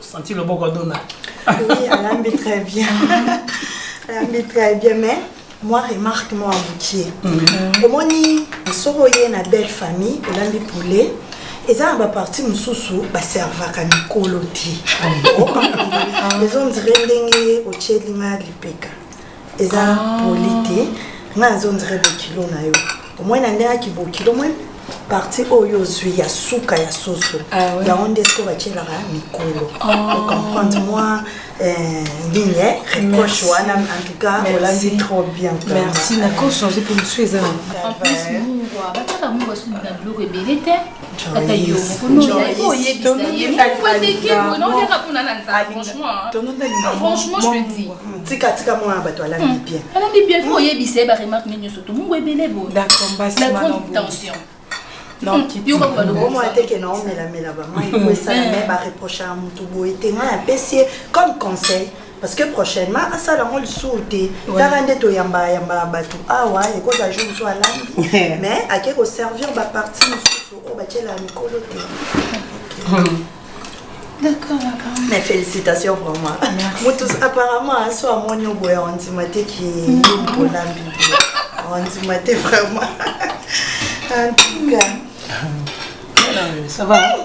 Senti le boko dona. Oui, alambi très bien. alambi très bien, mais moi remarque moi abukie. Mhm. Omoni soko ye na belle famille, olambi poulet. eza na baparti mosusu baservaka mikolo te ah ezondire ndenge otyeli nga lipeka eza poli te nga nazo ndire bokilo na yo omoi na ndenge yaki bokilo moi parti oyo ozwi ya suka ya soso yango nde soki batyelaka mikolo ocomprendre moi nini reproche wana en tout cas olandi trop bien merci nakochange mpo mosusu eza na en plus mungwa batyaka mungwa soki na biloko ebele te ata yo moko nona il faut oyebisa ye moko eteke boye na oyaka kuna na nzala franchement franchement je te dis tika tika mwana bato alandi bien alandi bien faut oyebisa ye ba remarque nini nyonso to mungu ebele boye la grande tension omona teke na omelamela bamai koesala me bareproche ya motu boye te ngai napesi ye comme conseil parce que prochainement asala yango lisusu te kaka nde toyamba yamba bato awa ah ekozala jour mosusu alambi mais ake koservir baparti mosusu oyo batyela mikolo te D'accord, d'accord. Mais félicitations vraiment. Mutus, apparemment, un soir, mon yobo est en dimate qui est mm. pour la Bible. En dimate vraiment. en tout cas. Ça va. Hein?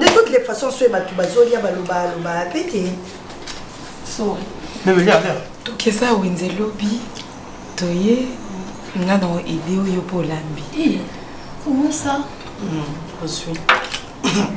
de toutes les façons soki bato bazolia baloba loba pe te tokesa wenze lobi toye nga na ede oyo mpo olambi comment ça ozwi hmm,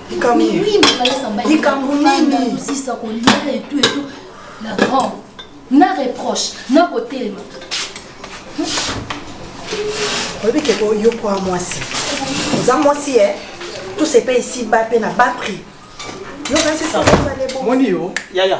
likambo nini likambo nini sisa kolia etu etu la grande na reproche na kotelema oyebi ke yo mpo ya mwasi oza mwasi e tout se paye ici ba mpe na ba prix yo kasi sasasale bo moni yo yaya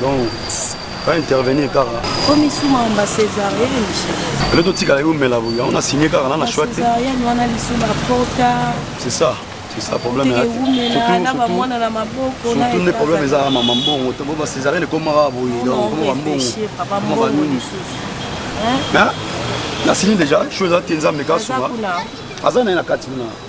donc ba intervenir kaka komi suma omba césarienne le to tika yo mela boya on a signé kaka na na choix te césarienne wana lisuma porta c'est ça c'est ça problème ya surtout na ba mwana na maboko na surtout ne problème eza maman bongo to ba césarienne comme mara boye donc comme ba bongo papa bongo hein na signé déjà chose à tenza meka suma aza na na kati na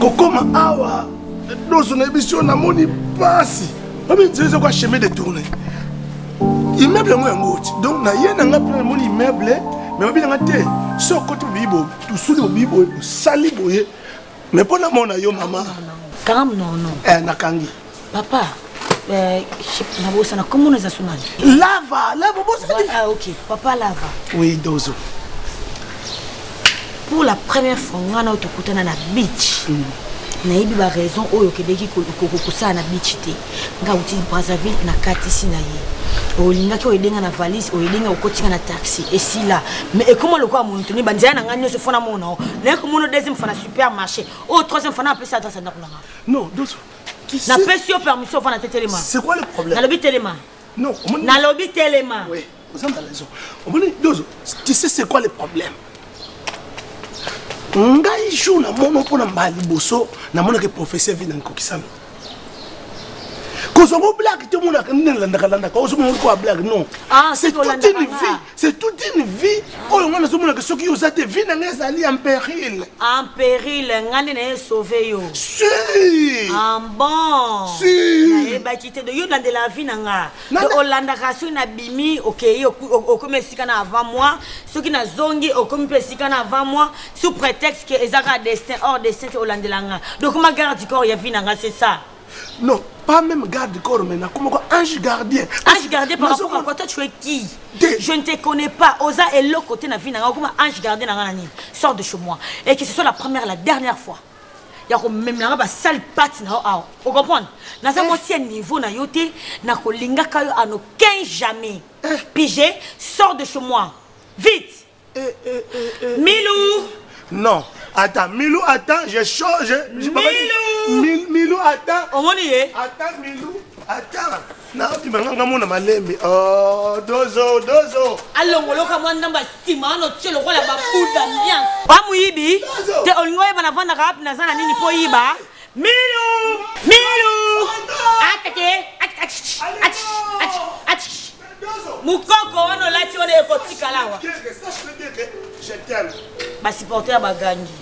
kokoma awa dozo na biso namoni mpasi omizezo kwa chemin de tourne immeuble yango yango oti donc naye na nga mpe namoni immeuble me babi na nga te so okoti bobiyi bobi Tusu lobi boye osali boye mais mpo namona yo mama kangam nono eh, nakangi papa eh, nabosana komona eza sunani lava lava bosani ah, ok papa lava oui dozo pour la première fois ngai na oyo tokutana na beach mm. nayebi baraison oyo okendeki kosala na beach te nga uti brazzaville nakatisi na ye olingaki oyede nga na valise oyede nga okoti nga na taxi esila me ekoma lokola monotoni banzela na ngai nyonso fona mona o naye komona deuxième fana supermarché oyo troisième fana apesa adresse ya ndako na nga non doso napesi yo permission ofana te telema nalobi telema nalobi telema oza na raison omoni dozo tu sais c'est quoi le problème ngai jour na mono mpo na mbala liboso namonaka professeur vina nkokisami kozwa ngo blague te omonaka nini nalandaka landaka ozomona olikoya blague non ah, c'est toute une vie c'est toute une vie oyo ngai nazomonaka soki yo oza te vie na ngai ezali en péril en péril ngai nde naye sauve yo si en ah, bon nayebaki te yo olandela vie na ngai olandaka soki nabimi okei okomi esika na avant moi soki nazongi okomi mpe esika na avant moi sous prétexte ke eza kaka destin or destin te olandela nga donc ma garde du corps ya vie na nga c'est ça non pas même garde corps mais nakoma ko ange gardien ange gardien par rapport à quoi toi tu es qui je ne te connais pas oza eloko te na vie na nga okoma ange gardien na nga na nini sort de chez moi et que ce soit la première la dernière fois ya komemela nga basale pati na yo awa ocomprendre naza eh. mwasi ya niveau na yo te nakolingaka yo en aucun jamais eh. pige sort de chez moi vite eh, eh, eh, milou non attends milou attends je change milou milou attends omoni ye attends milou attends nabima nga nga mona malembe oh, dozo dozo alongoloka mwa ndambo asima wana otye lokola babuda mianse ba moyibi te olingi oyeba navandaka wapi naza na nini mpo yiba milu milu atake mukoko wana olati wana ekotikalawa basupporter ya bagangi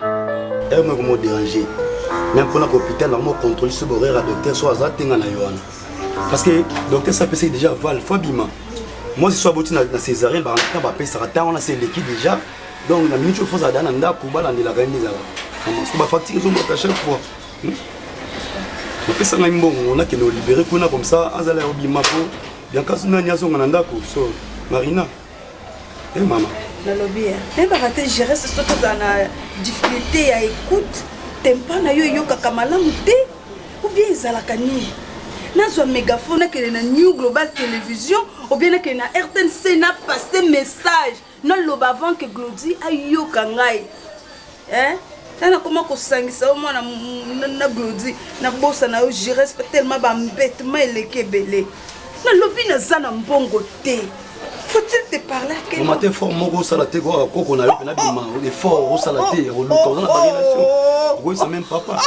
eme komo déranger meme mpona ko hôpital na mo contrôle soki horaire ya docteur so aza te nga na yo wana parce que docteur so apesaki déjà val fo abima mwasi so aboti na césarien bana bapesaka ntango wana se eleki déjà donc na minute oyo fo ozala da na ndako balandelaka ye nde ezala parce que bafacture ezomata chaque fois bapesa ngai mbongo nakende olibere kuna comme ça azala ya obima mpo biankasu nani azonga na ndako so marina Eh mama. Nalobi ya. Nayebaka te gérer ce soki ozala na difficulté ya écoute, tempa na yo eyokaka malamu te ou bien ezalaka nini? nazwa mégaphone nakende na new global télévision obien nakende na rtnc na passe message naloba avant que glodi ayoka ngai eh na nakoma kosangisa yo mwana na glodi nabosa na yo gires tellement bambetement eleki ebele nalobi naza na mbongo te faut-il te parler à quel moment fort moko osala te kaka koko na yo pena bima effort osala te ya koluka oza na barelation okoyisa même papa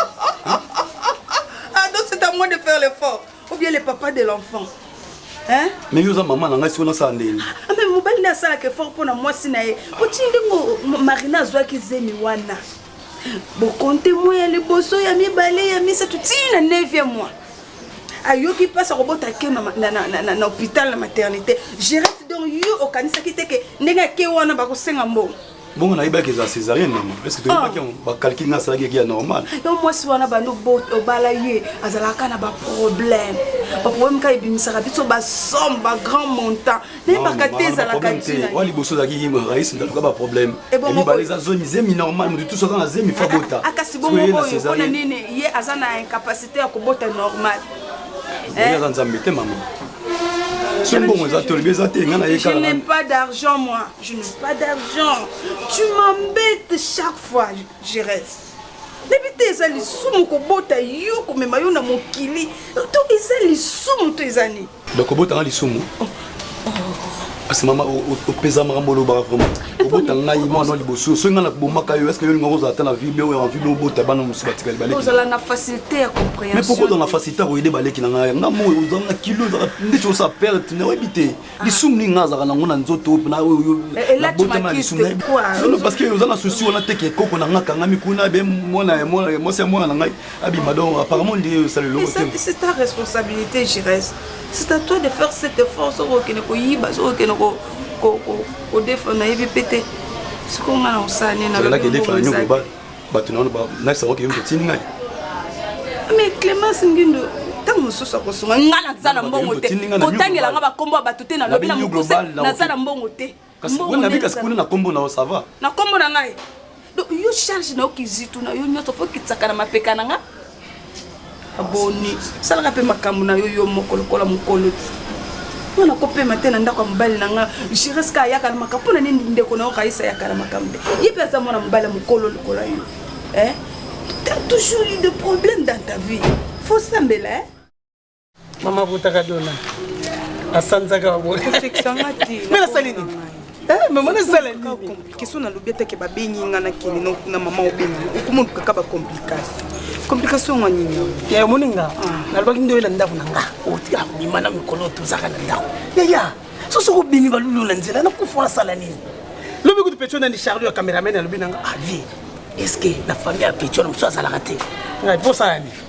ado c'est à moi de faire l'effort ou bien le papa de l'enfant hein mais yo oza maman na ngai siko nasala ndeni ah, mais mobali nde asalaka effort mpo na mwasi na ye poti ndenge marina azwaki zemi wana bokonte mwa ya liboso ya mibale ya misato tii na 9e mois ayoki mpasi akobota ke na hôpital na maternité gerete donc yo okanisaki te ke ndenge ake wana bakosenga mbongo bongo nayebaki eza césarienne mama parceke toyebaki yango ah. bakalkile nga asalaki eki ya normal yo mwasi wana bando obala ye azalaka na baproblème baproblème ka ebimisaka biso basomme bagrand montant nayebaka te ezalaka tina liboso ozalaki yingo rais ndatuka baproblème mibale eza zemi zemi normal moto tusaka na zemi fa bota ah, kasi bongo oyo mpona nini ye aza na incapacité ya kobota normal eh? aza nzambe te mama soki mbongo eza tolobi eza te nga nayekala je n'ai pas d'argent moi Je n'ai pas d'argent. Tu m'embêtes chaque fois, je reste. nayebi te eza lisumu kobota yo komema yo na mokili to eza lisumu to eza nini donc kobota nga lisumu oh, oh. parce mama opeza makambo olobaka vraiment obota ngai mwana liboso soki ngai nakobomaka yo estce yolinga kozala ata na vie bio ya envie biobota bana mosusu batikali balekizala na facilité ya compréhension mais pourquoi ozala na facilité ya koyede baleki na ngai nga moi ozala na kilo ezala ndeti osala perte na oyebi te Ah. lisumu nini nga azalaka nango na nzoto na oyo eh, eh, botama lisumu parce que oza na souci wana te ke koko na nga akangami kuna be mwana ya mwana mwasi ya mwana na ngai abima donc apparemment nde osala eloko te c'est ta responsabilité gires c'est à toi de faire cet effort soki okende koyiba soki okende kodefendre nayebi mpe te sikoyo nga na osala nini nalobelaki edefendre nyoko ba bato nano banakisa yango keyoki otindi ngai mais clémence ngindo ntango mosusu akosunga ngai naza na mbongo te kotangela ngai bakombo ya bato te nalobi na mokuse naza na mbongo te kasi kuna na kombo na yo sava na kombo na ngai donc yo charge na yo kizitu na yo nyonso fo okitsaka na mapeka na ngai aboni salaka mpe makambo na yo yo moko lokola mokolo ti nga nakopema te na ndako ya mobali na nga jireska ayaka na makambo mpo na nini ndeko na yo kaisa ayaka na makambo te ye mpe aza mwana mobali ya mokolo lokola yo eh? t'as toujours eu de problème dans ta vie fosambela eh? mama botaka dona asanzaka boyempe nasali nini eh, mama nasala complication nalobi atake babengi nga nakende na mama obengi okomona kaka bacomplication complication yango nini ya omoni nga ah. nalobaki nde oyela ndako na nga otika oh, bima na mikolo tozaka na ndako yaya soki soki obimi balulu na nzela nakufa nasala nini lobi kutu petio nani charlo ya cameraman alobi na nga avi ah, est ce que na famille ya petio na mosusu azalaka te ngai mposala nini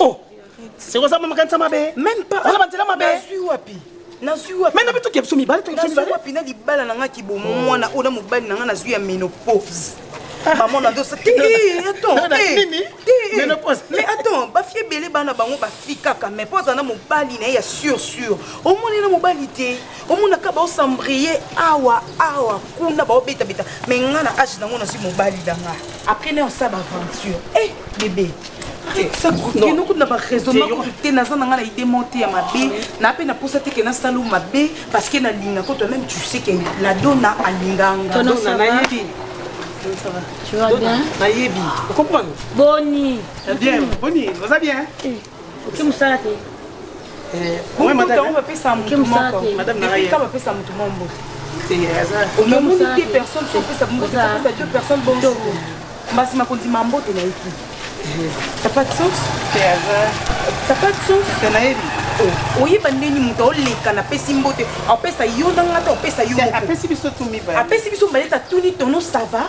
oh seko oza makanisa mabe meme pas oza banzela mabe nazwi wapi nazwi wapi meme bitu kebso mibale to kebso wapi na libala na nga ki bo mwana oyo na mobali na nga nazwi ya menopause ah. maman na dosa ti attends nini menopause mais attends ba fie belé bana bango ba fika ka mais poza na mobali na ya sur sur omoni na mobali te omonaka baosambriye awa awa kuna baobetabeta me nga na age nango nazwi mobali na nga après nayo sa baaventure e eh, bebe kino kutu na baraisonnement kutu te naza na nga na idée mo te ya mabe na mpe naposa te ke nasala mabe parce que nalinga ko toi-même tu sais ke la dona alinganga nayebi okomprendre boni bien boni oza bien eh. oke mosala te bapesa motu moko epika bapesa motu mwa mbote omoni te personne sopesa mbote apesa deux personne bonjour mbasi makondima mbote na eki ça pas de sens ça pas de sens nayebi oyeba ndeni moto aoleka napesi mbote apesa yo na ngata opesa yo apesi biso mibale apesi biso mibale tatuni tono sava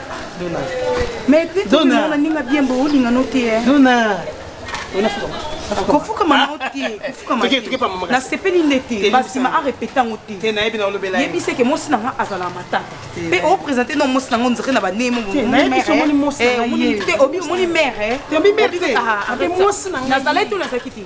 Mais puis tu me mona ninga bien bo linga no te. Dona. Ona fuka. kofuka mama o te kofuka ma te nasepeli nde te basima arepete yango te yebisa eke mosi na nga azala matata mpe opresente no mosi na ngo nzere na baneye moomoni mere nazalaki to nazalaki te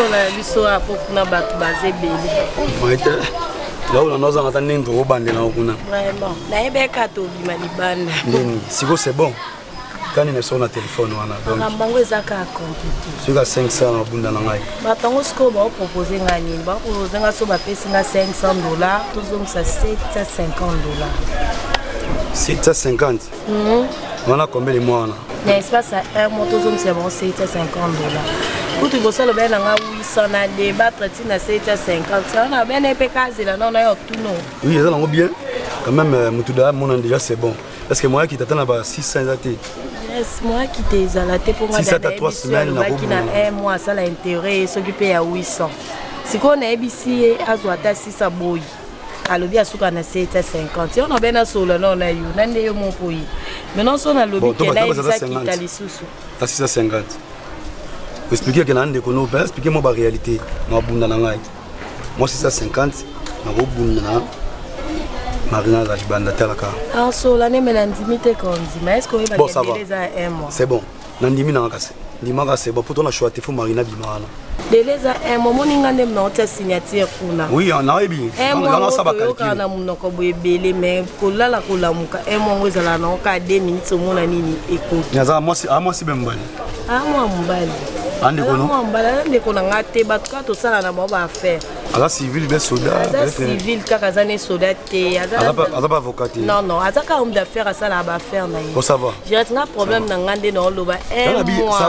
biso na biso ya po kuna bato baza ebele laula naozanga ata ndenge tokobandela ngo kuna nayebeka tobima libanda nini siko c'est bon kani na biso na telefone wana donc bango eza kaka compliqué soki ka 500 na bunda na ngai bato yango sikoyo baopropose ngai nini baopropose ngai so bapesi ngai 500 dollar tozongisa 750 dollar 750 mhm. wana combien de mois wana na espace ya 1 mois tozongisa bango 750 dollar kutu kosala obele na ngai 800 na debattre ti na 750 wana obele mpe kazela nao nayo tuno oui eza nango bien quand même euh, moto da amona déjà c'est bon Est-ce que moi qui t'attends là bas 600 eza te Yes, moi qui t'es ezala te mpo Si ça t'a trois semaines, na nabaki na bobo. un mois asala intérêt soki mpe ya 800 sikoyo nayebisi ye azwa ata 6 aboyi alobi asuka na 750 yo nabe nasolola nao na yo na nde yo moko ye maintenant so Bon, nalobi to ke batanga eza nayebisa 50. kita lisusu à 650 expliquer que na ndeko no ben expliquer moi ba réalité na bunda na ngai Moi 650 nakobunda na marina azali banda talaka asola ah, neme nandimi te kondima eske oyebaeza un mois c'est bon nandimi nanga kasi ndimaka c'est bon poto na choix te fo marina bima wana dele eza un mois omoni nga nde naotia signature kuna oui ah, nayebi oyokaa na monoko boye ebele mais kolala kolamuka un mois yango ezala nango kaka deux minutes omona nini ekoki aza mwasi ah, bembali Ah, mwa mobali andeko no mwa mobali aza ndeko na ngai te bato kaka tosala na bango baaffaire aza civil be soda aza civil kaka aza ne soda te aza baavocat te non non aza kaka homme d'affaire asalaka baaffaire na ye ça va jirate nga problème na ngai nde naoloba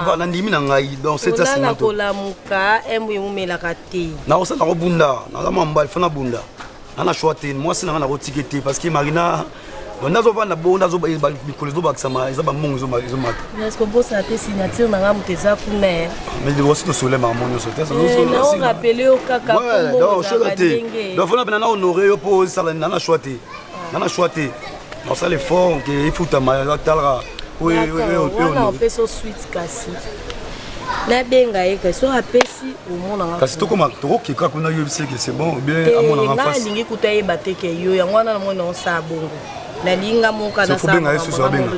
va nandimi na ngai donc setasina kolamuka embo eumelaka te nakosala nakobunda naza mwa mobali fana bunda nga na choix te mwasi na nga nakotike te parce que marina banda azovanda bongo nda mikolo ezobakisama eza bambongo ezomataobosana te signature na nga moto eza kuna osi tosole makambo nyonso terapele yo kakafona pena na honore yo mpo osalani na na choix te na na choix te Nasala effort nke efutama atalaka wana opesi o suite kasi nabenga ye kasi soki apesi omonanga kasi tokoma tokokeka kuna yebisi eke c'est bon bien amonanga nga alingi kuta yeba te ke yo yango wana namoni naosala bongo nalinga moka nasabenga ye susu abenga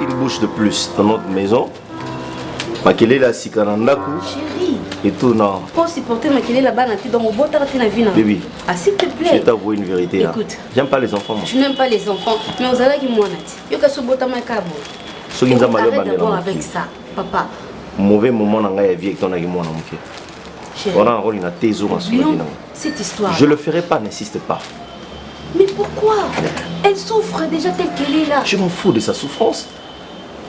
Une bouche de plus dans notre maison. makelele ya sika na ndako etuna po supporter makelele ya bana te donc obotaka te na vie na oui ah s'il te plaît je t'avoue une vérité là écoute j'aime pas les enfants moi je n'aime pas les enfants mais ozalaki mwana te yoka sobotama kabo soki nzambe alobamela avec ça papa mauvais moment na ngai ya vie etonaki mwana moke wana nakolinga te ezonga sololi nango je le ferai pas n'insiste pas mais pourquoi elle souffre déjà telle qu'elle est là je m'en fous de sa souffrance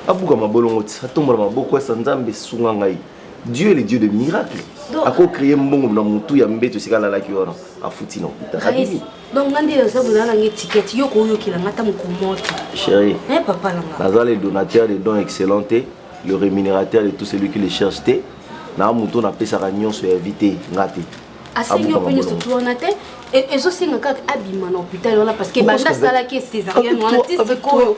abuka mabolongo ti atombola maboko esa nzambe esunga ngai dieu le dieu de miracle akocreye mbongo na motu ya mbeto esika alalaki wana afuti na hôpital donc nga nde naza kozala nanga etikete yo koyokela nga ata mokomoto chéri eh, papa nanga naza le donateur de don excellent te le rémunérateur de tout celui qui le cherche te na moto napesaka nyonso ya vie te nga te asengi yo mpe nyonso tu wana te ezosenga kaka abima na hôpital wana parce que banda asalaki césarienne wana ti sikoyo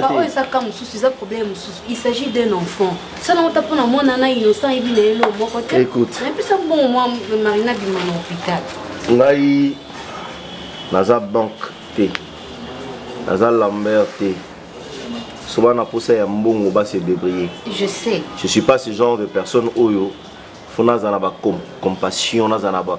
Papa oyo eza cas mosusu eza problème mosusu il s'agit d'un enfant sala ngo ta mpona mwana na innocent ayebi na ye lo moko te napesa bongo mwa marina bima na hôpital ngai naza banque te naza lambert te soba na posa ya mbongo ba se débrouiller je sais je suis pas ce genre de personne oyo fo nazala na ba compassion nazala na ba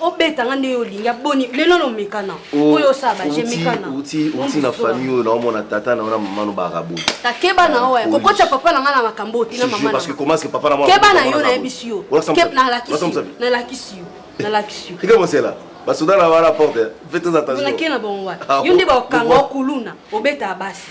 obeta nga nde olingi aboni lelo nomekana oh, oyo osaba jemekana uti uti na famille oyo naomona tata na ona mama no barabote takeba na oyo kokotya papa na nga na makambo otina mama parce que comment est-ce que papa na mama keba na yo nayebisi yo nalakisi yo nalakisi yo keba mosela basoda na wana porte faites attention yo nde bakanga okuluna obeta basi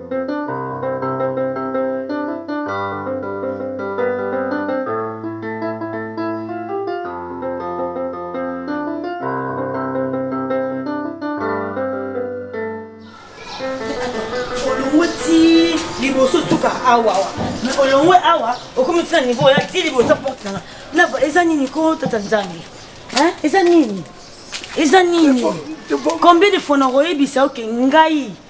awa awa mais olongwe awa okomi ti na niveau oya ti liboso porte nanga naba eza nini ko tata nzambe eza nini eza nini combien de fois nakoyebisa oke ngai okay.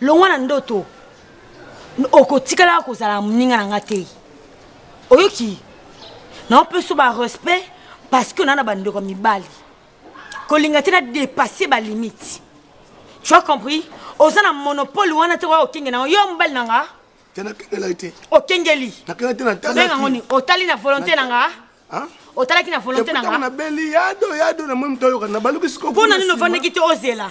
longwa na ndoto okotikalaka kozala moninga na nga te oyoki naopeso barespect parce que naa na bandeko ya mibali kolinga te na dépasse balimite tu as compris oza na monopole wana te oya okenge nango yo mobali na nga okengeli obengango nini otali na volonté na nga otalaki na volonté na nga mpo na nini ovandaki te ozela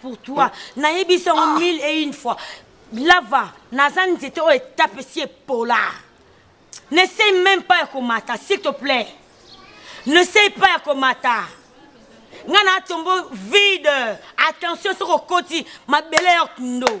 pour toi nayebi biso yango mille et une fois lava naza nzete oyo etape esi epola n'essaye même pas ya komata s'il te plaît n'essaye pas ya komata ngai naatombo vide attention soki okoti mabele ya kndo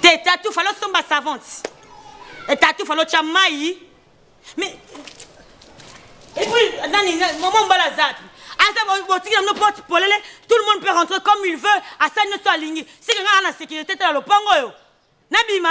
te tatu falo somba savante etatu falo tya mai mais epuis nani mama mbala azapi aza botikela bino porte polele tout le monde peut rentrer comme il veut asali nyonso alingi seke ngai na sécurité te na lopango oyo nabima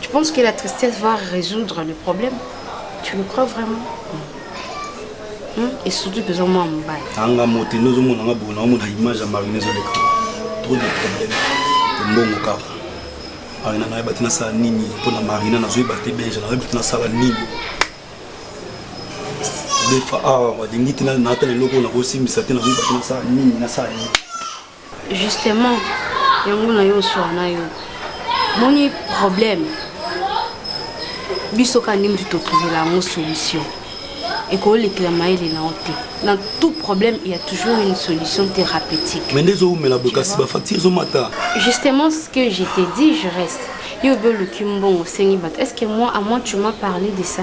Tu penses que la tristesse va résoudre le problème Tu le crois vraiment hmm? Et surtout que moi mon bail. Anga mote nous on a bon on a image à marine les Trop de problèmes. Mbongo kaka. Marina na yeba tina sala nini mpo na Marina na zoyi ba te benja na yeba tina sala nini. Defa awa ah, walingi tina na ata eloko na kosimbisa te na zoyi ba tina sala nini na sala nini. Justement, yango na yo oswa na yo moni problème biso kaka nde motu totuvela yango solution ekolekela mayele na yo te na tout problème il y a toujours une solution thérapeutique mais nde ezowumela boye kasi bafacture ezomata justement ce que je te dis je reste yo obi oluki mbongo osengi bato est ce que moi à moi tu m'as parlé de ça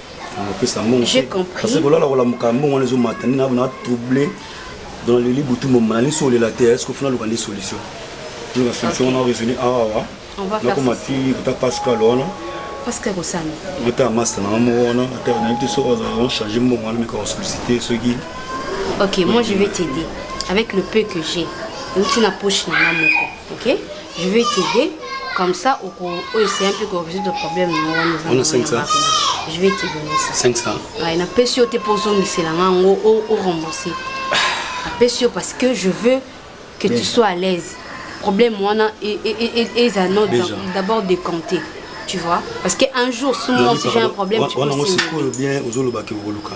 opesa mbongo parce que kolala kolamuka mbongo wana ezomata nini na trouble dans le lit butu moma na liso olela te est-ce que funa luka nde solution luka solution wana raisonner awa nakoma ti kuta pascal wana pascal kosana ata masta na moko wana ata nayebi te soki azala change mbongo wana meka kosolicite soki ok moi je vais t'aider avec le peu que j'ai outi na poche na nga moko ok je vais t'aider comme ça oko oyo c'est un peu ko résoudre problème na wana eza Ona 500. je vais te donner ça 500 Ouais, napesi yo te mpo ozongisela nga yango o- o rembourse napesi yo parce que je veux que tu sois à l'aise problème wana e- e- e- e- eza no Déjà. d'abord décompté tu vois parce que un jour si moi aussi j'ai un problème tu wana peux ngo signer. sikoyo bien ozolobaki okoluka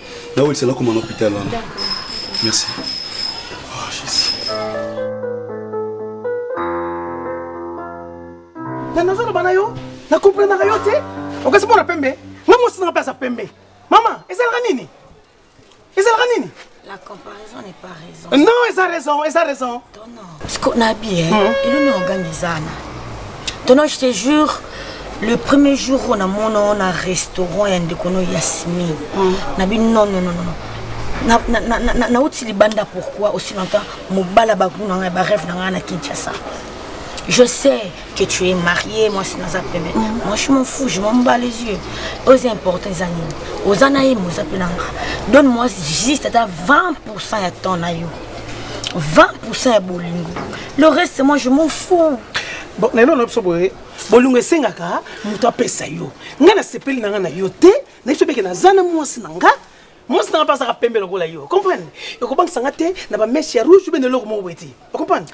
Là où il s'est là comme un hôpital. Merci. Oh, Jésus. na nazoloba na yo na komprenaka yo te okasi mpo na pembe nga mwasi nanga mpe aza pembe mama ezalaka nini ezalaka nini la comparaison n'est pas raison non eza raison eza raison Siko na bi eh elo na ogangi zana. Tono je te jure le premier jour on a mon on a restaurant ya ndeko no Yasmine. Na bi non non non non. Na na na na na uti libanda pourquoi aussi longtemps mobala ba kuna ngai ba rêve na ngai na Kinshasa. Je sais que tu es marié, moi c'est dans un paiement. Moi je m'en fous, je m'en bats les yeux. Aux importants animaux, aux anaïm, aux appelanga. Donne-moi juste à 20% à ton aïe. 20% ya bolingo le reste moi je m'en fous bon lelo na biso boye bolingo esengaka moto apesa yo ngai nasepeli na ngai na yo te na biso beke naza na mwasi na ngai mwasi nanga mpe azalaka pembe lokola yo comprendre ekobangisa nga te na bameshe ya rouge mpe na eloko moko boye te ocomprendre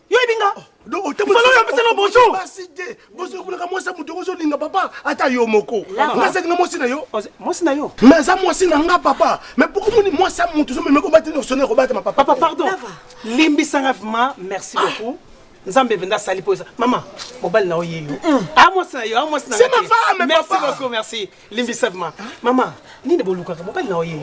yo yebi nga falo oyo apesa na bonjour basi te bosi okolaka mwasi ya moto ozolinga papa ata yo moko ngasaki na mwasi na yo mwasi na yo mais aza mwasi na nga papa mais pourquoi moni mwasi ya moto ozomema kobata na osone kobata ma papa papa pardon limbisanga vraiment merci ah. beaucoup nzambe mpenza asali mpo eza mama mobali na yo yeyo a ah, mwasi na yo a ah, mwasi na yo merci beaucoup merci Limbisa ma maman, nini bolukaka mobali na oye.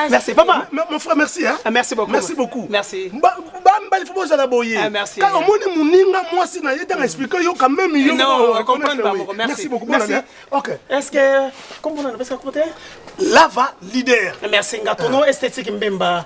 Merci papa. Mon frère merci hein. Ah, merci beaucoup. Merci beaucoup. Merci. Ba ba mbali faut bozala boye. Ah, merci. Quand omoni muninga mwasi na ye tanga expliquer yo quand même yo. Non, comprendre pas beaucoup. Merci beaucoup. Merci. OK. Est-ce que comme on a parce que côté Lava leader. Merci ngatono esthétique mbemba.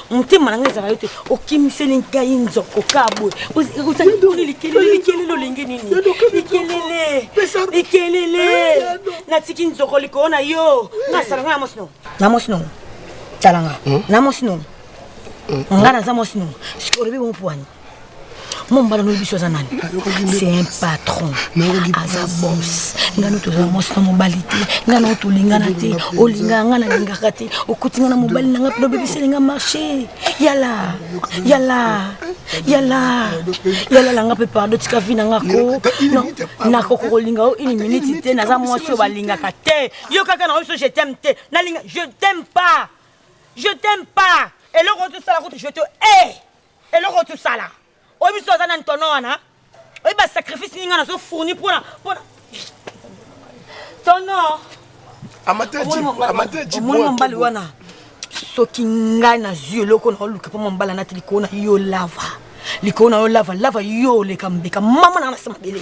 motema na ngai ezala yo te okimiseli ngai nzoko ka boye ozali mponi likelele likelele olenge nini likelele likelele natiki nzoko likolo na yo ngai asala ngai na mwasi nongo na mwasi nongo tala nga na mwasi nongo nga naza mwasi nongo sikoyo olobi bompo wani mombala noyebi biso aza nani c'est un patron aza bos ngai no tozala mwasi na mobali te ngai nao tolingana te olingaka ngai nalingaka te okuti ngai na mobali na ngai mpe obebiseli ngai marché yala yala yala yala langa mpe pardo tika vi na nga ko nakoki kolinga yo une minute te naza mwasi oyo balingaka te yo kaka na oyo so je t'aime te nalinga je t'aime pas je t'aime pas eloko oyo tosala kutu je te e eh! hey! eloko tosala oyebi biso aza na ntono wana oyebi basacrifice ninga nazo fourni mpona mpona tono omoni mombali wana soki ngai nazwi eloko naoluka mpo mombala nati likolo na yo lava likolo na yo lava lava yo oleka mbeka mama nanga nase mabele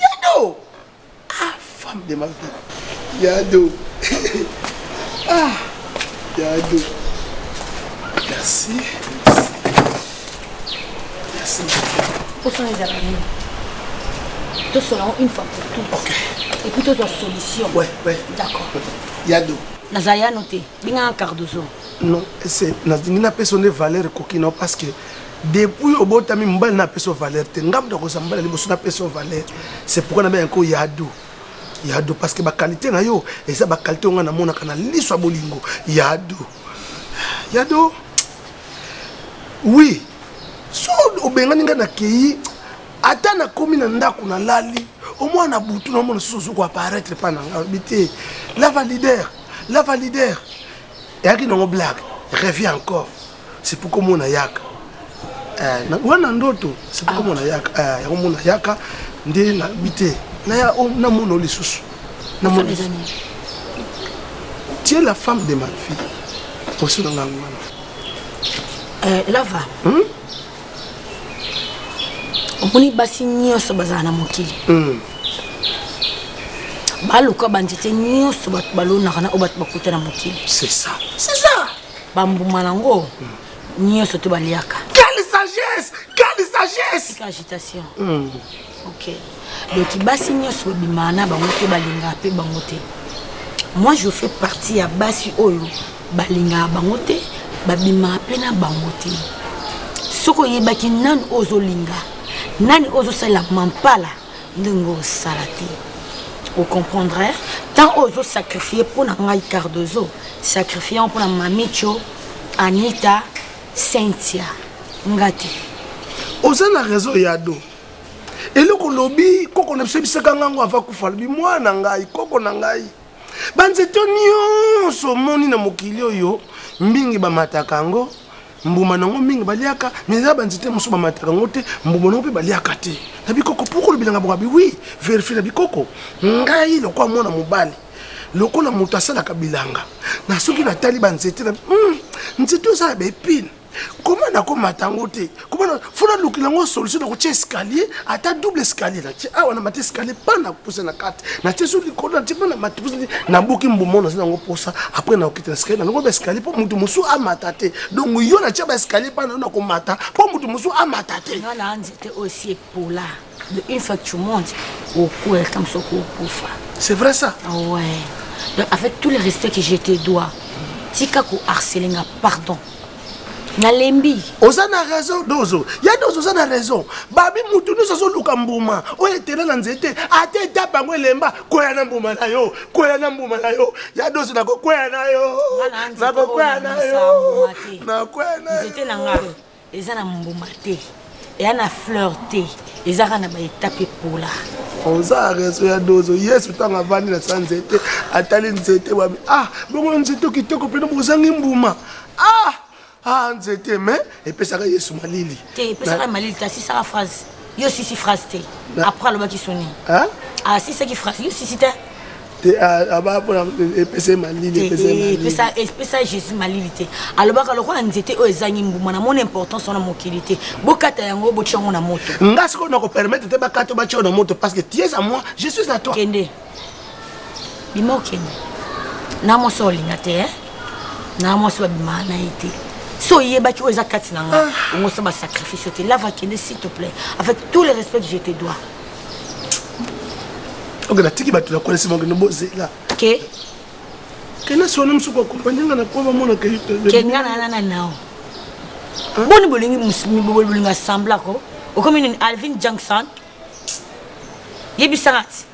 Yado ah femme de ma vie Yado ah Yado merci merci osala ezala nini tosola yango une fois pour tout okay. epuis tozwa solution ouais, ouais. d'accord yado naza yano te benganga cardozo non c'est nalingi napesa nde valeur ekoki non parce que depuis obotami mobali na apesa valeur te ngai moto akozwa mobali liboso napesa valeur c'est pourquoi nabe yanko yado yado parce que bakalite na yo eza bakalite ongai namonaka na liso ya bolingo yado yado oui so obengani ngai nakei ata nakomi na ndako nalali omwana butu na omona susu ozokoaparaitre mpa na ngai oyebi te lava leader la valider eyaki nango blague revie encore c'est pour komona yaka eh, wana ndoto c'est pour komona yaka eh, yango mona yaka nde nabi te naya oh, namona lisusu namona tu es la femme de ma vie poso na ngai wana eh, lava hmm? omoni basi nyonso bazala na mokili mm. baluka banzete nyonso bato balonaka na oyo bato bakuta na mokili bambuma yango mm. nyonso to baliaka quelle sagesse quelle sagesse agitation mm. Okay. Donc basi nyonso babimaka na bango te balingaka mpe bango te. Moi je fais partie ya basi oyo balingaka bango te babimaka mpe na bango te. Soki oyebaki nani oyo ozolinga nani oyo ozosalela mampala ndenge osala te ocomprendre ntango oyo ozosakrifie mpo na ngai cardozo sakrifie yango mpo na mamicho anita cynthia nga te oza na raison ya do eloko lobi koko na biso ebisaka ngango ava kufa alobi mwana ngai koko na ngai banzete nyonso omoni na mokili oyo mingi bamataka yango mbuma na yango mingi baliaka me eza banzete mosusu bamataka yango te mbuma na yango mpe baliaka te na bikoko mpo kolobi na ngai bokabi wi verifie na bikoko ngai lokola mwana mobali lokola moto asalaka bilanga na soki natali banzete na hmm, nzete oyo eza na baepine koma nakomata yango te komana fo nalukela yango solution nakotia escalier ata double escalier natie awa na mati escalier pa na puse na kati natie so likolo natie pa na mati puse nabuki mbuma naza nango mposa après nakokita na escalier nanoko baescalier mpo moto mosusu amata te donc yo natia baescalier pa nayo nakomata mpo moto mosusu amata te Pola de une fois que tu montes okua ata mosu okokufa c'est vrai ça ouais donc avec tout le respect que je te dois tika koharcele nga pardon nalembi oza na raison dozo ya dozo oza na raison babi mutu nyonso azoluka mbuma oyo etela na nzete ata etape yango elemba kwea na mbuma na yo kwea na mbuma na yo ya dozo nakokwea na yo nakokwea na yo nakwea na yo eza na mbuma te eya na fleur te ezaka na baetape epola oza rezo ya dozo yesu ntango avandi na sa nzete atali nzete wabi ah bongo nzete kitoko mpena bozangi mbuma ah ah nzete me epesaka yesu malili te epesaka malili te asisaka phrase yo sisi phrase te après alobaki soni asisaki ah, phrase yo sisi te epesa jésus malili te alobaka lokola nzete oyo ezangi mbuma na mona importance wana mokili te bokata yango botya yango na moto nga sikoyo nakopermettre te bakata batya na moto parce que tiesa moi je suis à toi kende bima okende na mwasi olinga te eh? na mwasi babima na ye te so oyebaki oyo eza kati na ngai ah. ongosa basacrifice te lava kende s'il te plaît avec tout le respect que je te dois oke natiki bato nakolesi mokende bozela ke kena sona mosusu koakompanye nga na po bamonaka kenga na nana nao boni bolingi bolinga semblako okomi nini alvin jankson yebisaka ti